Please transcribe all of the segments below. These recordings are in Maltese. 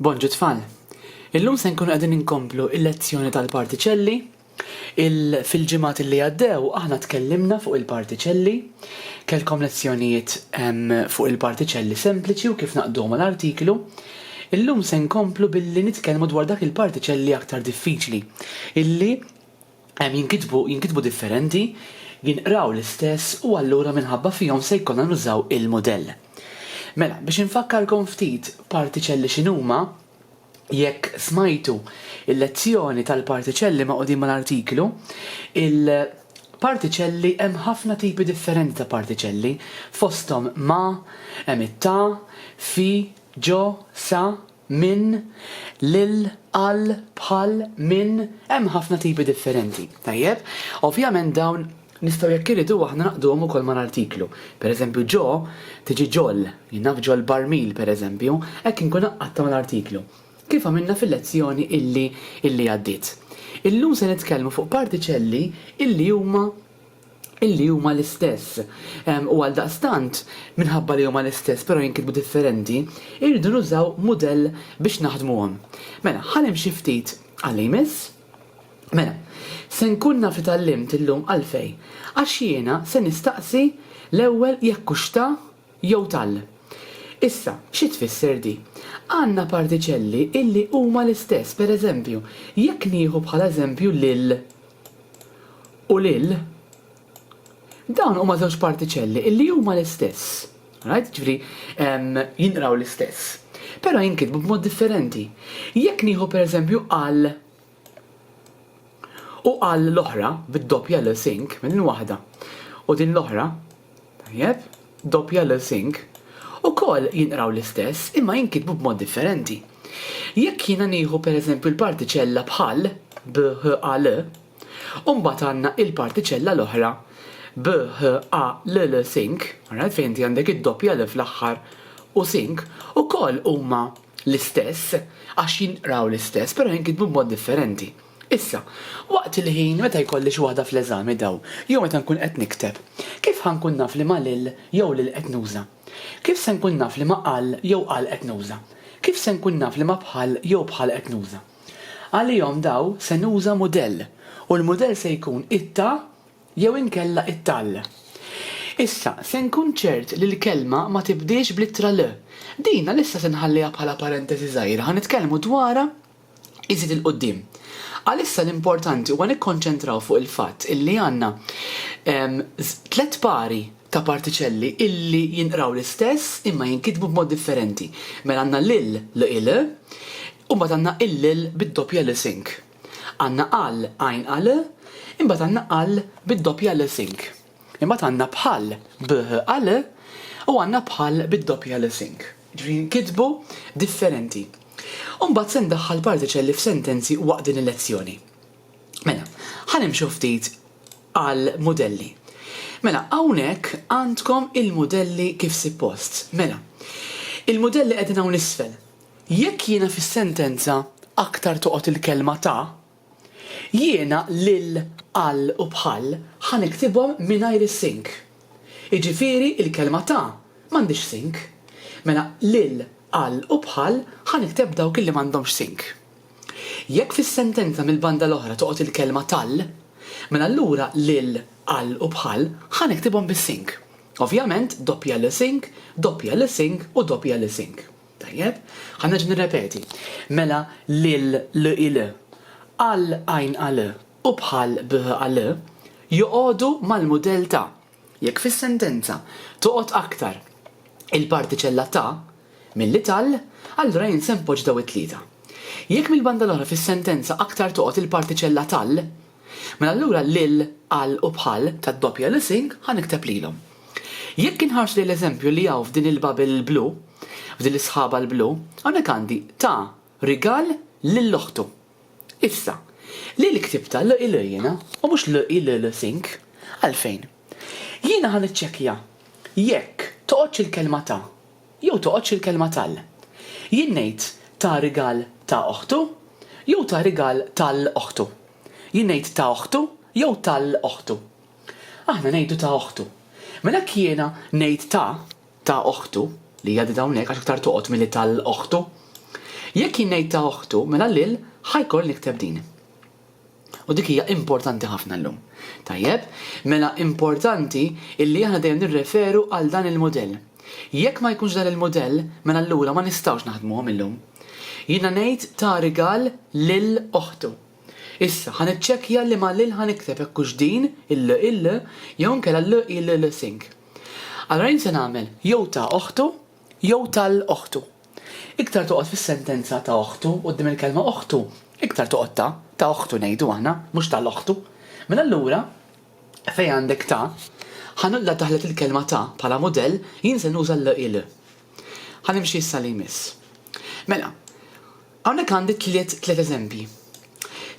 Bonġu tfal! Illum se nkunu qegħdin inkomplu l-lezzjoni tal-partiċelli. Il Fil-ġimgħat li għaddew aħna tkellimna fuq il-partiċelli. Kellkom lezzjonijiet fuq il-partiċelli sempliċi u kif naqduhom għal artiklu. Illum se nkomplu billi nitkellmu dwar dak il-partiċelli aktar diffiċli illi jinkitbu jinkitbu differenti, jinqraw l-istess u allura minħabba fihom se jkollna nużaw il-mudell. Mela, biex infakkarkom ftit partiċelli x'inhuma, Jekk smajtu l-lezzjoni tal-partiċelli ma' qudiem mal-artiklu, il-partiċelli hemm ħafna tipi differenti ta' partiċelli, fosthom ma', hemm it-ta', fi, ġo, sa, minn, lil, għal, bħal, minn, hemm ħafna tipi differenti. Tajjeb? Ovvjament dawn Nistgħu jekk irridu aħna naqduhom ukoll ma' artiklu. Per eżempju ġo tiġi ġol, jien naf ġol barmil per eżempju, hekk inkun għaqqadtha ma' artiklu. Kif għamilna fil-lezzjoni illi illi għaddiet. Illum se nitkellmu fuq partiċelli illi huma illi huma l-istess. U għaldaqstant, minħabba li huma l-istess però jinkitbu differenti, irridu nużaw mudell biex naħdmuhom. Mela, ħa nimxi ftit għalli jmiss. Mela, se nkun naf li tgħallimt illum għalfejn, għax jiena se nistaqsi l-ewwel jekk hux ta jew tall. Issa, xi tfisser di? Għandna partiċelli illi huma l-istess, per eżempju, jekk nieħu bħala eżempju lil u lil, Dawn huma żewġ partiċelli illi huma l-istess. Right? Ġifri, jinqraw l-istess. Pero jinkitbu b'mod differenti. Jekk nieħu per eżempju għal u għal l-oħra bid-doppja l sink minn waħda u din l-oħra tajjeb doppja l sink u kol jinqraw l-istess imma jinkitbu b'mod differenti. Jekk jiena nieħu per eżempju l-partiċella bħal bħal U mbagħad għandna il-partiċella l-oħra b, h, a, l, l, think, alright, fejn inti għandek id-doppja l fl-aħħar u think, ukoll huma l-istess għax jinqraw l-istess però jinkitbu b'mod differenti. Issa, waqt il-ħin meta jkolli xi waħda fl-eżami dawn, jew meta nkun qed nikteb, kif ħa nkun naf liema l jew l qed nuża? Kif se nkun naf liema qal jew qal qed nuża? Kif se nkun naf liema bħal jew bħal qed nuża? Għalihom daw se nuża mudell u l-mudell se jkun it-ta jew inkella it-tal. Issa, se nkun ċert li l-kelma ma tibdiex bl-ittra l. Din għalissa se nħalliha bħala parentesi żgħira, ħa nitkellmu dwarha iżjed 'il quddiem. Għalissa l-importanti huwa nikkonċentraw fuq il-fatt illi għandna tliet pari ta' partiċelli illi jinqraw l-istess imma jinkitbu b'mod differenti. Mela għandna l-ill, l-il, u mbagħad għandna il-l bid-doppja l sink. Għandna għal, għajn għal, imbagħad għandna għal bid-doppja l sink. Imbagħad għandna bħal, bh għal, u għandna bħal bid-doppja l sink. Ġifieri jinkitbu differenti. U mbagħad se ndaħħal partiċelli f'sentenzi waqt din il-lezzjoni. Mela, ħa nimxu ftit għall-mudelli. Mela, hawnhekk għandkom il-mudelli kif sippost. Mela, il-mudelli qegħdin hawn isfel. Jekk jiena fis-sentenza aktar toqgħod il-kelma ta', jiena lil, għal u bħal ħa niktibhom mingħajr is-sink. Jiġifieri il-kelma ta' m'għandhiex sink. Mela, lil, għal u bħal ħa nikteb dawk li m'għandhomx sink. Jekk fis-sentenza mill-banda l-oħra toqgħod il-kelma tal, mela allura lil, għal u bħal ħa niktibhom bis-sink. Ovvjament, doppja l sink, doppja l sink u doppja l sink. Tajjeb? Ħa nerġa' nirrepeti. Mela lil, l il, għal għajn għal u bħal bh għal joqogħdu mal-mudell ta'. Jekk fis-sentenza toqgħod aktar il-partiċella ta' milli tal, allura jien se npoġġ daw it-tlieta. Jekk mill-banda l-oħra fis-sentenza aktar toqgħod il-partiċella tal, mela allura lil, għal u bħal tad-doppja li sing ħa nikteb lilhom. Jekk inħarsu lejn l-eżempju li hawn f'din il-bubble l-blu, f'din is-sħaba l-blu, hawnhekk għandi ta rigal lil oħtu. Issa, li l-ktibta l i l jiena u mhux l i l l think? Għalfejn? Jiena ħa niċċekkja jekk toqgħodx il-kelma ta' jew toqgħodx il-kelma tal. Jien ngħid ta' rigal ta' oħtu jew ta' rigal ta' l oħtu? Jien ngħid ta' oħtu jew ta' l oħtu? Aħna ngħidu ta' oħtu. Mela jekk jiena ngħid ta', ta' oħtu, li hija qdid hawnhekk għax iktar toqgħod milli ta' l oħtu. Jekk jien ngħid ta' oħtu, mela lil ħa jkolli nikteb din. U dik hija importanti ħafna llum. Tajjeb, mela importanti illi aħna dejjem nirreferu għal dan il-mudell. Jekk ma jkunx dan il-mudell, mela allura ma nistgħux naħdmuhom illum. Jiena ngħid ta' rigal lil oħtu. Issa, ħa niċċekkja liema l ħa nikteb hekk hux din, il il jew inkella l i l l sink. Allura jien se nagħmel jew ta' oħtu jew tal oħtu. Iktar toqgħod fis-sentenza ta' oħtu quddiem il-kelma oħtu, iktar toqgħod ta', ta' oħtu ngħidu aħna, mhux ta' l-oħtu. Mela allura, fejn għandek ta', ħa nulla taħlet il-kelma ta' bħala mudell, jien se nuża l i l. Ħa nimxi issa li jmiss. Mela, Hawnhekk għandi tliet tliet eżempji.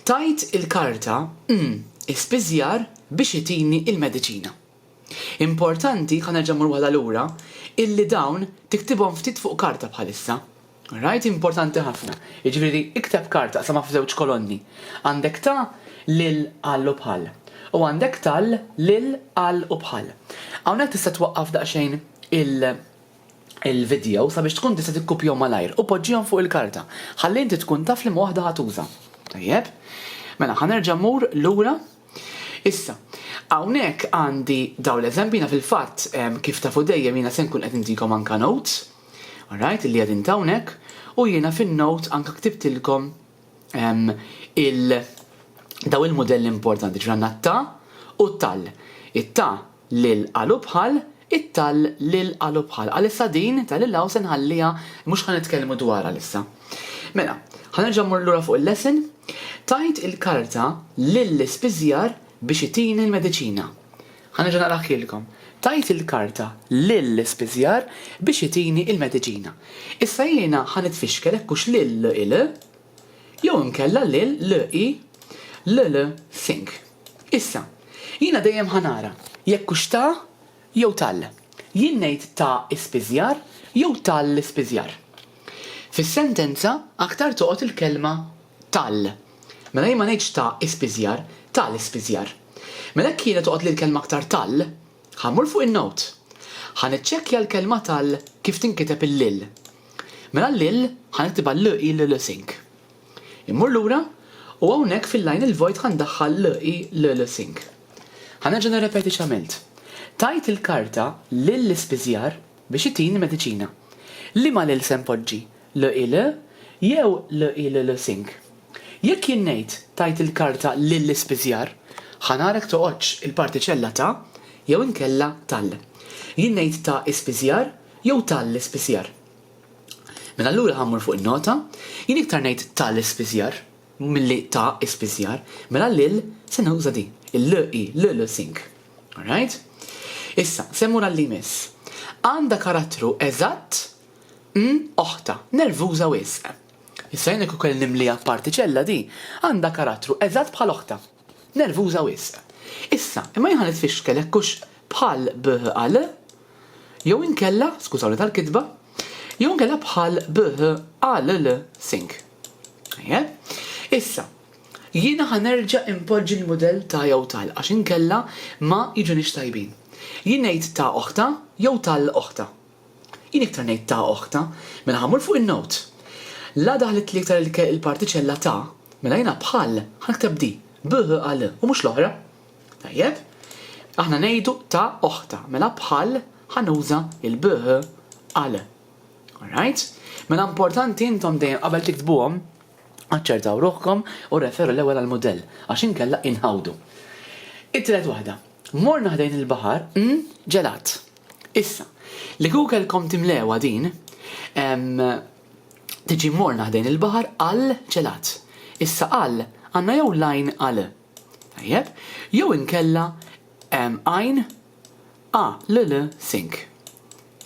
Tajt il-karta mm ispiżjar biex itini il-mediċina. Importanti, ħa nerġa' mmur waħda lura, illi dawn tiktibhom ftit fuq karta bħalissa. Alright, importanti ħafna. Jiġifieri ikteb karta qsamha f'żewġ kolonni. Għandek ta' lil għal u bħal. U għandek tal lil għal u bħal. Hawnhekk tista' twaqqaf daqsxejn il il-vidjow sabiex tkun tista' tikkupjahom malajr u poġġihom fuq il-karta ħalli inti tkun taf liema waħda ħa tuża. Tajjeb. Mela ħa nerġa' mmur lura. Issa, hawnhekk għandi dawn l-eżempji jiena fil-fatt kif tafu dejjem jiena se nkun qed intikom anke notes, alright, illi qegħdin ta' hawnhekk, u jiena fin-notes anke ktibtilkom il daw il-mudelli importanti, ġifieri għandna t-ta u t-tal. It-ta lil qalubħal It-tall lil qalubħal Għalissa din ta' lil hawn se nħalliha mhux ħa nitkellmu dwarha għalissa. Mela, ħa nerġa' mmur lura fuq il-lesson. Tajt il-karta lill-ispiżjar biex itini l-mediċina. Ħa nerġa' naqrah lilkom. Tajt il-karta lill-ispiżjar biex itini l-mediċina. Issa jiena ħa nitfixkel hekk hux lil il jew inkella lil l-i l-l think. Issa, jiena dejjem ħa nara jekk hux ta' jew tal. Jien ngħid ta' ispiżjar jew tal-ispiżjar. Fis-sentenza aktar toqgħod il-kelma tal. Mela jien ma ngħidx ta' ispiżjar, ta' l-ispiżjar. Mela jekk jiena toqgħodli l-kelma aktar tal, ħa mmur fuq in-note. Ħa niċċekkja l-kelma tal kif tinkiteb il-l. Mela l-'il' ħa niktibha l-'i' l-'l-sink'. Immur lura u hawnhekk fil-line il-vojt ħa ndaħħal l-'i' l-'l-sink'. Ħa nerġa' nirrepeti x'għamilt. Tajt il-karta lill-ispiżjar biex itini mediċina. Liema 'l' se npoġġi, l-'i' l' jew l-'i' l-l-sink? Jekk jien ngħid tajt il-karta lill-ispiżjar, ħa nara jekk toqgħodx il-partiċella ta' jew inkella tal. Jien ngħid ta' ispiżjar jew ta' l-ispiżjar. Mela allura ħa mmur fuq in-nota, jien iktar ngħid ta' l-ispiżjar milli ta' ispiżjar, mela l-il se nuża di, il-l i l l sink. Alright? Issa, se mmur għal li jmiss. Għandha karattru eżatt m oħtha, nervuża wisq. Issa jien jekk ukoll nimliha b'partiċella di għandha karattru eżatt bħal oħtha. Nervuża wisq. Issa, imma jien ħa nitfixkel hekk hux bħal bh al. Jew inkella, skużawni tal-kitba, jew inkella bħal bh al l sink. Tajjeb. Issa, jiena ħa nerġa' inpoġġi l-mudell ta' jew tal għax inkella ma jiġunix tajbin. Jien ngħid ta' oħta jew tal oħta. Jien iktar ngħid ta oħ ta, mela ħa mmur fuq in-note. La daħlitli iktar il-partiċella ta, mela jiena bħal ħa nikteb di, b h a l, u mhux l-oħra. Tajjeb? Aħna ngħidu ta oħ ta, mela bħal ħa nuża il-b h a l. Alright? Mela importanti intom dejjem qabel tiktbuhom aċċertaw ruħkom u rreferu l-ewwel għall-mudell għax inkella inħawdu. It-tielet waħda. Morna ħdejn il-baħar, n, ġelat. Issa, li Googlecom timlewha din, tiġi morna ħdejn il-baħar għal ċelat. Issa għal għandna jew l-għajn għal. Tajjeb? Jew inkella għajn a l l sink.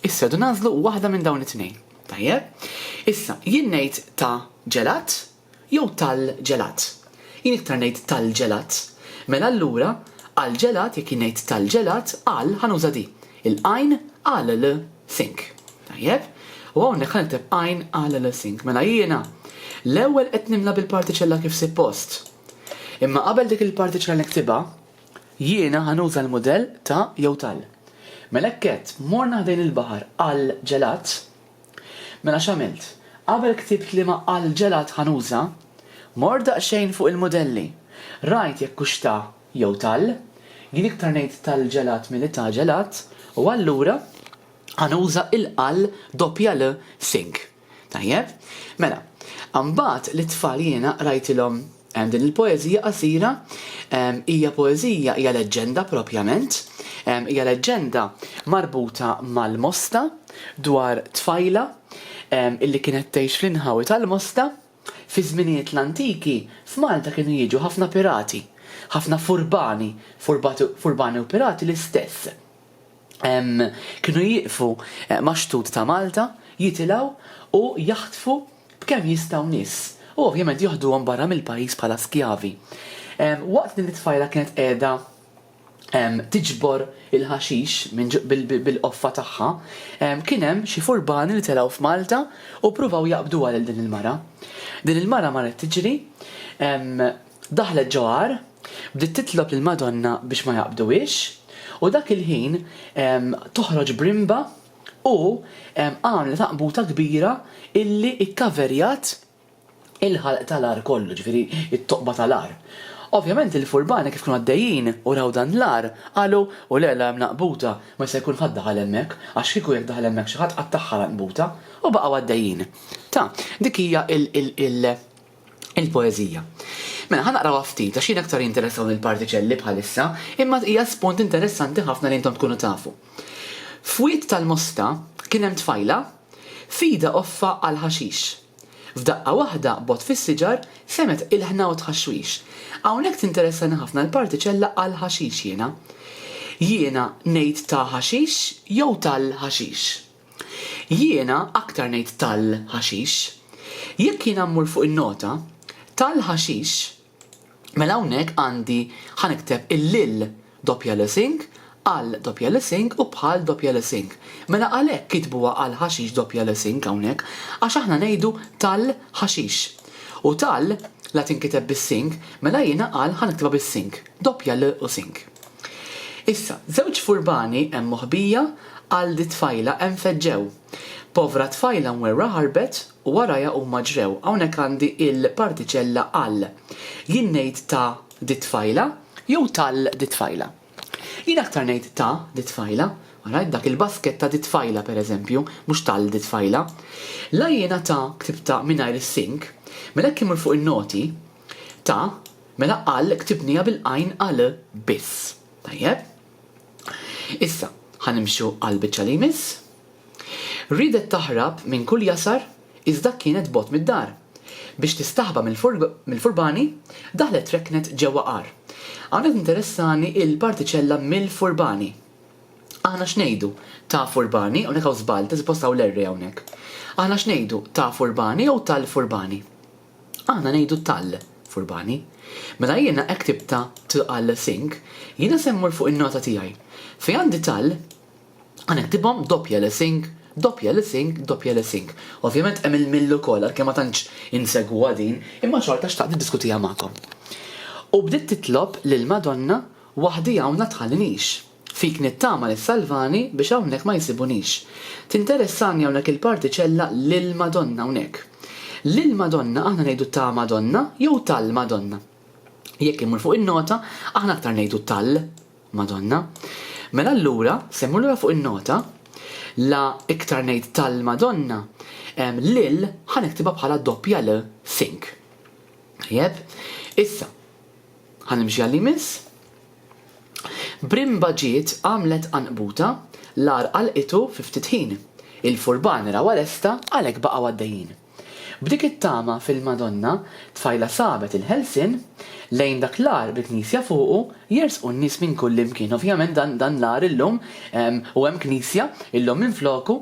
Issa du nażlu waħda minn dawn it-tnejn. Tajjeb? Issa, jien ngħid ta' ġelat, Jew tal-ġelat. Jien iktar ngħid tal-ġelat. Mela allura, għall-ġelat, jekk jien ngħid tal-ġelat, għal, ħa nuża di. Il-għajn għal l think. Tajjeb. U hawnhekk ħa nikteb għajn għal l think. Mela jiena l-ewwel qed nimla bil-partiċella kif sippost. Imma qabel dik il-partiċella niktibha, jiena ħa nuża l-mudell ta' jew tal. Mela hekk għedt, morna ħdejn il-baħar għall-ġelat. Mela x'għamilt? Qabel ktibt liema għall ġelat ħa nuża, mort daqsxejn fuq il-mudelli. Rajt jekk hux ta' jew tal. Jien iktar ngħid tal ġelat milli ta' ġelat u allura ħa nuża il-qal doppja l sing. Tajjeb? Mela, imbagħad lit-tfal jiena qrajtilhom Din il-poeżija qasira hija poeżija, hija leġġenda propjament, hija leġġenda marbuta mal-Mosta dwar tfajla illi kienet tgħix fl-inħawi tal-Mosta. Fi żminijiet l-antiki f'Malta kienu jiġu ħafna pirati, ħafna furbani, furbati u pirati l-istess. kienu jieqfu max-xtut ta' Malta, jitilgħu u jaħtfu b'kemm jistgħu nies u ovvjament joħduhom barra mill-pajjiż bħala skjavi. Waqt din it-tfajla kienet qiegħda tiġbor il-ħaxix bil-qoffa tagħha, kien hemm xi furbani li telgħu f'Malta u ppruvaw jaqbduha lil din il-mara. Din il-mara marret tiġri, Daħlet ġo għar, bdiet titlob lill-Madonna biex ma jaqbduhiex, u dak il-ħin toħroġ brimba u għamlet għaqbuta kbira illi kkaverjat il-ħalq ta' l-għar kollu, ġifieri t-toqba ta' l-għar. Ovvjament il-furbani kif kienu għaddejjin u raw dan l-għar, qalu, U le, l-għar mnaqbuta, ma jista' jkun ħadd daħal hemmhekk, għax kieku jekk daħal hemmhekk xi ħadd qattagħha l-għanqbuta. U baqgħu għaddejjin. Ta, dik hija l. il-poeżija. Mela ħanaqrawha ftit għax jien aktar jinteressawni l-partiċelli bħalissa, imma hija spunt interessanti ħafna li intom tkunu tafu. F'wied tal-Mosta kien hemm tfajla f'idha offa għal ħaxix. F'daqqa waħda bogħod fis-siġar semgħet ilħna u tħaxwix. Hawnhekk tinteressani ħafna l-partiċella għal ħaxix jiena. Jiena ngħid ta' ħaxix jew tal-ħaxix? Jiena aktar ngħid tal, ħaxix. Jekk jiena mmur fuq in-nota, tal, ħaxix, mela hawnhekk għandi ħa nikteb il-lil doppja l sing, għal doppja l sing u bħal doppja l sing. Mela għalhekk kitbuha għal ħaxix doppja l sing hawnhekk għax aħna ngħidu tal, ħaxix. U tal, la tinkiteb bis-sing, mela jiena għal ħa niktibha bis-sing, doppja l u sing. Issa, żewġ furbani hemm moħbija għal di t-tfajla hemm feġġew. Povra tfajla mwerwra ħarbet u warajha huma ġrew hawnhekk għandi il-partiċella għal. Jien ngħid ta' di t-tfajla jew tal di t-tfajla? Jien aktar ngħid ta' di t-tfajla. Ara, dak il-basket ta' di t-tfajla per eżempju, mhux tal di t-tfajla. La jiena ta' ktibtha mingħajr is-sink, mela jekk imur fuq in-noti, ta' Mela qal ktibniha bil-qajn għal biss. Tajjeb. Issa, ħa nimxu għall-biċċa li jmiss. Riedet taħrab minn kull jasar iżda kienet bogħod mid-dar. Biex tistaħba mill-furbani, daħlet reknet ġewwa għar. Hawnhekk tinteressani l-partiċella mill-furbani. Aħna x'ngħidu, ta' furbani, hawnhekk hawn żball, ta' suppost hawn l-erre hawnhekk. Aħna x'ngħidu, ta' furbani jew tal-furbani? Aħna ngħidu tall, furbani. Mela jiena ektib ta' tl-all sink, jiena se mmur fuq in-nota tiegħi. Fejn għandi tall, ħa niktibhom doppja l sink, doppja l sink, doppja l sink. Ovvjament hemm il-mill ukoll, għalkemm ma tantx insegwuha din, imma xorta xtaqt niddiskutiha magħkom. U bdiet titlob lill-Madonna waħdi hawn la tħallinix. Fik nittama li ssalvani biex hawnhekk ma jsibunix. Tinteressani hawnhekk il-partiċella lill-Madonna hawnhekk. Lill-Madonna aħna ngħidu ta' Madonna jew tal-Madonna. Jekk immur fuq in-nota, aħna aktar ngħidu tal. Madonna. Mela allura, se mmur lura fuq in-nota, la iktar ngħid tal-Madonna, lil ħa niktibha bħala doppja l, think. Tajjeb? Issa, ħa nimxi għal-li jmiss. Brimba ġiet, għamlet qanqbuta, l-għar qalqitu fi ftit ħin. Il-furban rawha lesta għalhekk baqgħu għaddejjin. B'dik it-tama fil-Madonna, tfajla sabet il-ħelsien, lejn dak l-għar bil-knisja fuqu jersqu n-nies minn kullimkien. Ovvjament dan l-għar illum, u hemm knisja illum minfloku,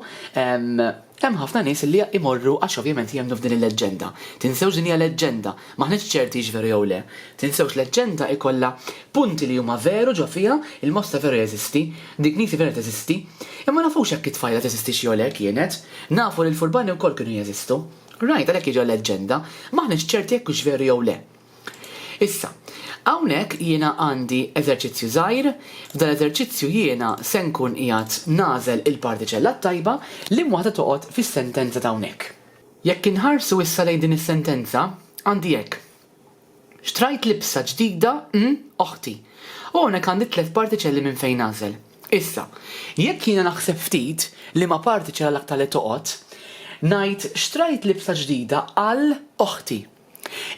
Hemm ħafna nies li imorru għax ovvjament jemmnu f'din il-leġġenda. Tinsewx din hija leġġenda. M'aħniex ċerti hix veru jew le. Tinsewx leġġenda jkollha punti li huma veru ġo fiha, il-mosta veru jeżisti, dik nisi vera teżisti. Imma ma nafux jekk it-tfajla teżistix jew le, kienet. Nafu li l-furbani wkoll kienu jeżistu. Right, għalhekk hi ġo leġġenda. M'aħniex ċerti jekk hux veru jew le. Issa, hawnhekk jiena għandi eżerċizzju żgħir, f'dan l-eżerċizzju jiena se nkun qiegħed nagħżel il-partiċella t-tajba, liema waħda toqgħod fis-sentenza ta' hawnhekk. Jekk inħarsu issa lejn din is-sentenza, għandi hekk, Xtrajt libsa ġdida n oħti. U hawnhekk għandi tliet partiċelli minn fejn nagħżel. Issa, jekk jiena naħseb ftit liema partiċella l-aktar li toqgħod, ngħid xtrajt libsa ġdida għal oħti.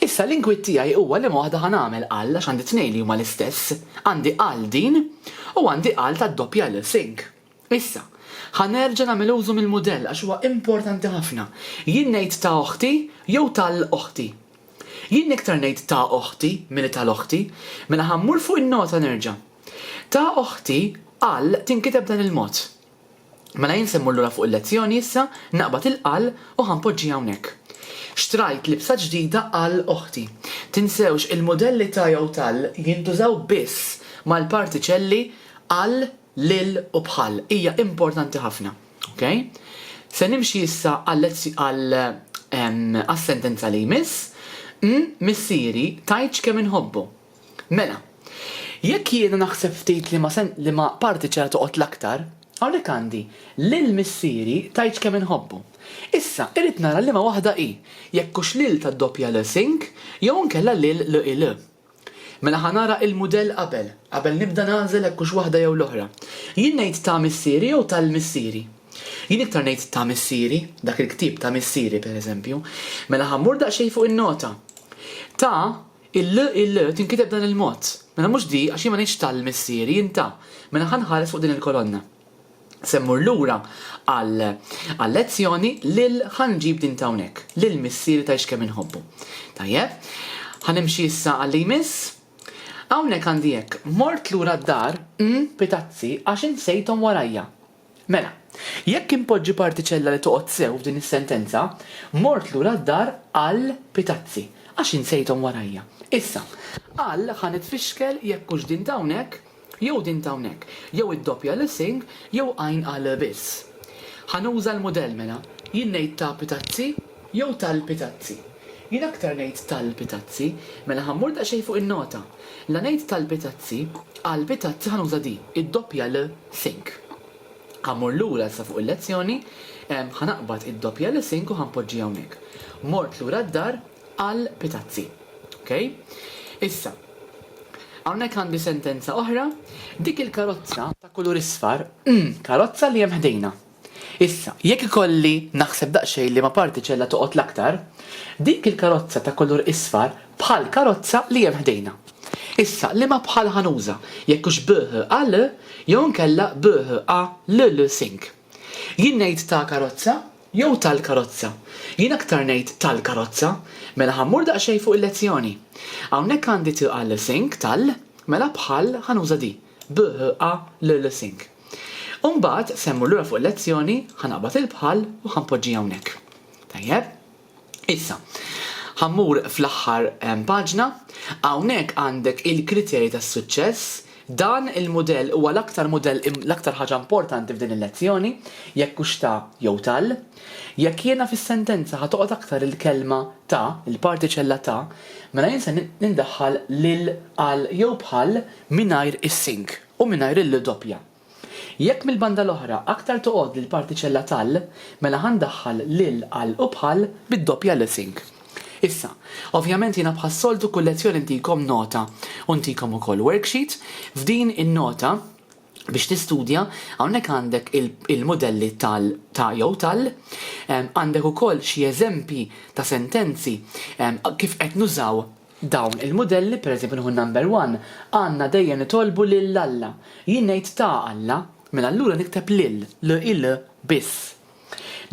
Issa l-inkwiet tiegħi huwa liema waħda ħa nagħmel għal għax għandi tnejn li huma l-istess, għandi għal din u għandi għal tad-doppja lil sink. Issa, ħa nerġa' nagħmel użu mill-mudell għax huwa importanti ħafna. Jien ngħid ta' oħti jew ta' l oħti? Jien iktar ngħid ta' oħti milli ta' l oħti. Mela ħa mmur fuq in-nota nerġa'. Ta' oħti għal tinkiteb b'dan il-mod. Mela jien se mmur lura fuq il-lezzjoni issa, naqbad il-qal u ħa npoġġi hawnhekk. Xtrajt libsa ġdida għal oħti. Tinsewx il-mudelli ta' jew tal jintużaw biss mal-partiċelli għal, lil u bħal. Hija importanti ħafna. Ok? Se nimxi issa għal għas-sentenza li jmiss, Umm, missieri, tgħidx kemm inħobbu. Mela, jekk jiena naħseb ftit liema se liema parti ċera toqgħod l-aktar, hawnhekk għandi, Lil missieri tgħidx kemm inħobbu. Issa, irrid nara liema waħda hi, jekk hux lil tad-doppja l sink jew inkella lil l il. Mela ħa nara il-mudell qabel, qabel nibda nagħżel hekk hux waħda jew l-oħra. Jien ngħid ta' missieri jew tal missieri? Jien iktar ngħid ta' missieri, dak il-ktieb ta' missieri, pereżempju. Mela ħa mmur daqsxejn fuq in-nota. Ta' Il-l, il-l, tinkiteb b'dan il-mod. Mela mhux di, għax jien ma ngħidx tal Missieri, jien ta. Mela ħa nħares fuq din il-kolonna. Se mmur lura għal għal-lezzjoni lil ħa nġib din t'hawnhekk, lil Missieri tgħidx kemm inħobbu. Tajjeb. Ħa nimxi issa għal li jmiss. Hawnhekk għandi hekk, mort lura d-dar, mm, pitazzi, għax insejthom warajja. Mela, jekk inpoġġi partiċella li toqgħod sew f'din is-sentenza, mort lura d-dar għal pitazzi, għax insejthom warajja. Issa, għal ħa nitfixkel jekk hux din t'hawnhekk jew din t'hawnhekk, jew id-doppja l sing jew għajn għal biss. Ħa nuża l-mudell mela. Jien ngħid ta' pitazzi. Jew talbi tazzi. Jien aktar ngħid talbi tazzi. Mela ħa mmur daqsxejn fuq in-nota. La ngħid talbi tazzi, qalbi tazzi ħa nuża di, id-doppja l think. Ħa mmur lura issa fuq il-lezzjoni, ħa naqbad id-doppja l think u ħa npoġġiha hawnhekk. Mort lura d-dar, qal bi tazzi. Okej? Issa, hawnhekk għandi sentenza oħra, dik il-karozza ta' kulur isfar, karozza li hemm ħdejna. Issa, jekk ikolli naħseb daqsxejn liema partiċella toqgħod l-aktar, dik il-karozza ta' kulur isfar bħall-karozza li hemm ħdejna. Issa, liema bħal ħa nuża, jekk hux BHAL jew inkella BHALLSync? Jien ngħid ta' karozza jew tal-karozza? Jien aktar ngħid tal-karozza. Mela ħa mmur daqsxejn fuq il-lezzjoni. Hawnhekk għandi THALSync tal, mela bħal ħa nuża di, BHALLSync. U mbagħad se mmur lura fuq il-lezzjoni, ħa naqbad il-bħall u ħa npoġġi hawnhekk. Tajjeb? Issa, ħa mmur fl-aħħar paġna, hawnhekk għandek il-kriterji tas-suċċess, dan il-mudell huwa l-aktar mudell l-aktar ħaġa importanti f'din il-lezzjoni, jekk hux ta jew tal. Jekk jiena fis-sentenza ħa toqgħod aktar il-kelma ta, il-partiċella ta, mela jien se nindaħħal lil, għal jew bħal mingħajr is-sink. u mingħajr il-l doppja. Jekk mill-banda l-oħra aktar toqgħodli l-partiċella tal, mela ħa ndaħħal lil, għal u bħal bid-doppja l sink. Issa, ovvjament jiena bħas-soltu kull lezzjoni ntikom nota u ntikom ukoll worksheet. F'din in-nota, biex tistudja, hawnhekk għandek il-mudelli tal, ta' jew tal. Għandek ukoll xi eżempji ta' sentenzi kif qed nużaw Dawn il-mudelli, pereżempju nieħu n-number one, għandna dejjem nitolbu lil Alla. Jien ngħid ta' Alla, mela allura nikteb lil, l-il, biss.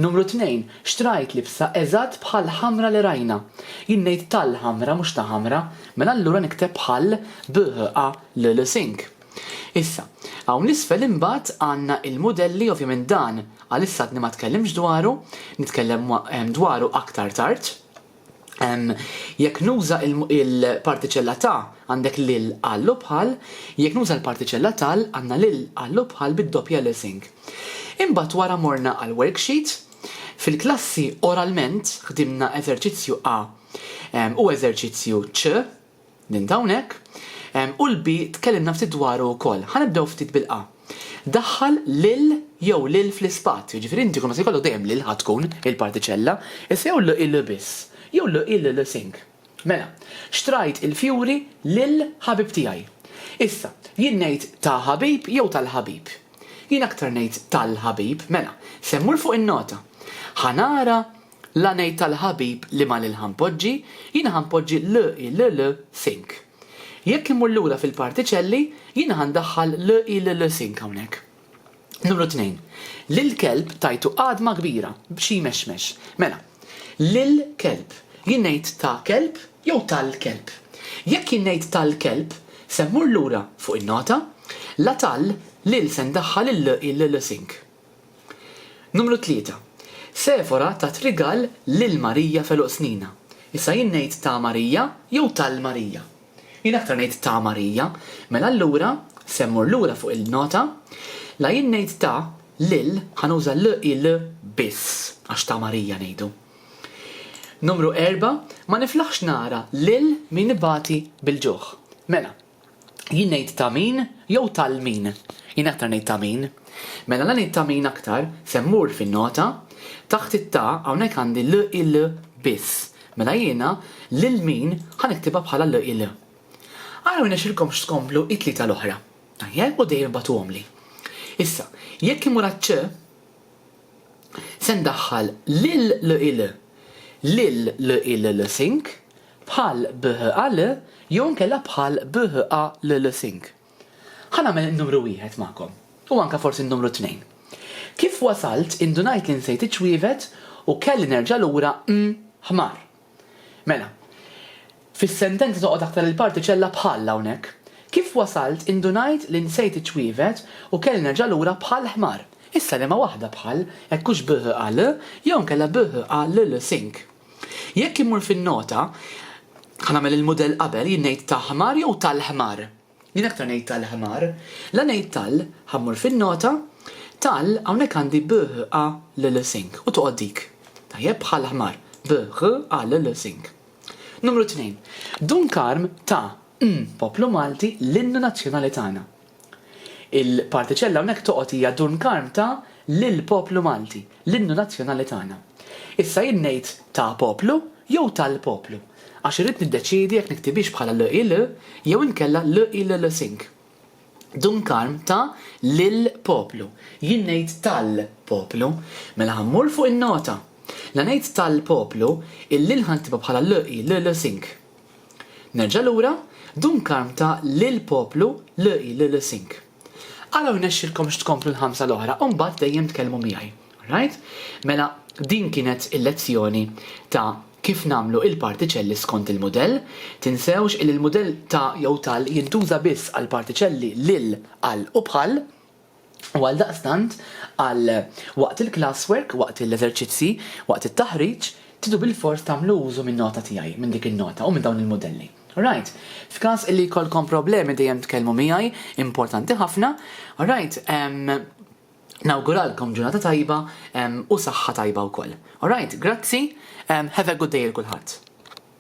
Numru tnejn, xtrajt libsa eżatt bħall-ħamra li rajna. Jien ngħid tal-ħamra mhux ta' ħamra, mela allura nikteb bħall, bh, a, l, l, sink. Issa, hawn 'l isfel imbagħad għandna l-mudelli, ovvjament dan għalissa għadni ma tkellimx dwaru, nitkellem dwaru aktar tard. Jekk nuża l-partiċella ta' għandek lil, għal u bħal, jekk nuża l-partiċella tal għandna lil, għal u bħal bid-doppja lesing. Imbagħad wara morna għall-worksheet. Fil-klassi oralment ħdimna eżerċizzju A u eżerċizzju C. Ninta hawnhekk. U l-B tkellimna ftit dwaru wkoll. Ħa nibdew ftit bil-A. Daħħal lil jew lil fl-ispazju, jiġifieri inti kull ma se jkollok dejjem lil ħa tkun il-partiċella, issa jew l-i l-i biss, jew l-i l-i l-i sing. Mela, xtrajt il-fjuri lil ħabib tiegħi. Issa, jien ngħid ta' ħabib jew tal-ħabib? Jien aktar ngħid tal-ħabib. Mela, se mmur fuq in-nota. Ħa nara La ngħid tal-ħabib li ma lil ħanpoġġi, jiena ħanpoġġi l i l l sink. Jekk immur lura fil-partiċelli, jiena ħandaħħal l i l l sink hawnhekk. Numru tnejn, Lill-kelb tajtu għadma kbira b'xi jmexmex. Mela, lill-kelb, jien ngħid ta' kelb jew tal-kelb? Jekk jien ngħid tal-kelb, se mmur lura fuq in-nota, la tal lil se ndaħħal il-l i l l sink. Numru tlieta. Sefora tat rigal lil Marija f'għeluq snina. Issa jien ngħid ta' Marija jew tal Marija? Jien aktar ngħid ta' Marija. Mela allura, se mmur lura fuq il-nota, la jien ngħid ta' lil, ħa nuża l i l biss, għax ta' Marija ngħidu. Numru erba', Ma niflaħx nara lil min ibati bil-ġuħ. Mela, Jien ngħid ta' min jew tal min? Jien aktar ngħid ta' min. Mela la ngħid ta' min aktar, se mmur fin-nota, taħt it-ta' hawnhekk għandi l il biss. Mela jiena lil min ħa niktibha bħala l il. Ara ma jnexxilkomx tkomplu it-tlieta l-oħra. Tajjeb u dejjem ibagħtuhomli. Issa, jekk imur għaċ-ċ, se ndaħħal l-il l il lil l il l sink bħal bh al jew inkella bħal bh a l l sink. Ħa nagħmel in-numru wieħed magħkom u anke forsi n-numru tnejn. Kif wasalt indunajt li nsejt iċ-ċwievet u kelli nerġa' lura mm ħmar. Mela, fis-sentenza toqgħod aktar il-partiċella bħall hawnhekk. Kif wasalt indunajt li nsejt iċ-ċwievet u kelli nerġa' lura bħal ħmar. Issa liema waħda bħal, hekk hux bh-a-l jew inkella bh-a-l-l sink? Jekk immur fin-nota, ħa nagħmel il-mudell qabel jien ngħid ta' ħmar jew tal-ħmar? Jien aktar ngħid tal ħmar. La ngħid tal, ħa mmur fin-nota, tal, hawnhekk għandi b, h, a, l, l, sink, u toqgħod dik. Tajjeb, bħal ħmar. B, h, a, l, l, sink. Numru tnejn. Dun Karm ta, mm, poplu Malti l-innu nazzjonali tagħna. Il-partiċella hawnhekk toqgħod hija Dun Karm ta, lil poplu Malti, l-innu nazzjonali tagħna. Issa jien ngħid ta' poplu jew tal-poplu? Għax irrid niddeċiedi jekk niktibhiex bħala l-il jew inkella l-il-lsing. Dun Karm ta lill-poplu. Jien ngħid tal-poplu. Mela ħa mmur fuq in-nota. La ngħid tal-poplu, il-lil ħa nktibha bħala l-il-lsing. Nerġa' lura, Dun Karm ta lill-poplu l-il-lsing. Ara u rnexxilkomx tkomplu l-ħamsa l-oħra u mbagħad dejjem tkellmu miegħi. Alright? Mela din kienet il-lezzjoni ta' kif nagħmlu il-partiċelli skont il-mudell. Tinsewx illi l-mudell ta' jew tal jintuża biss għall-partiċelli lil, għal u bħal. U għaldaqstant għal waqt il-classwork, waqt l-eżerċizzji, waqt it-taħriġ, tridu bilfors tagħmlu użu min-nota tiegħi, minn dik in-nota u minn dawn il-mudelli. Right. F'każ li jkollkom problemi dejjem tkellmu miegħi, importanti ħafna. Alright, ehm, nawguralkom ġurnata tajba ehm, u saħħa tajba wkoll. Alright, grazzi, ehm, have a good day 'l kulħadd.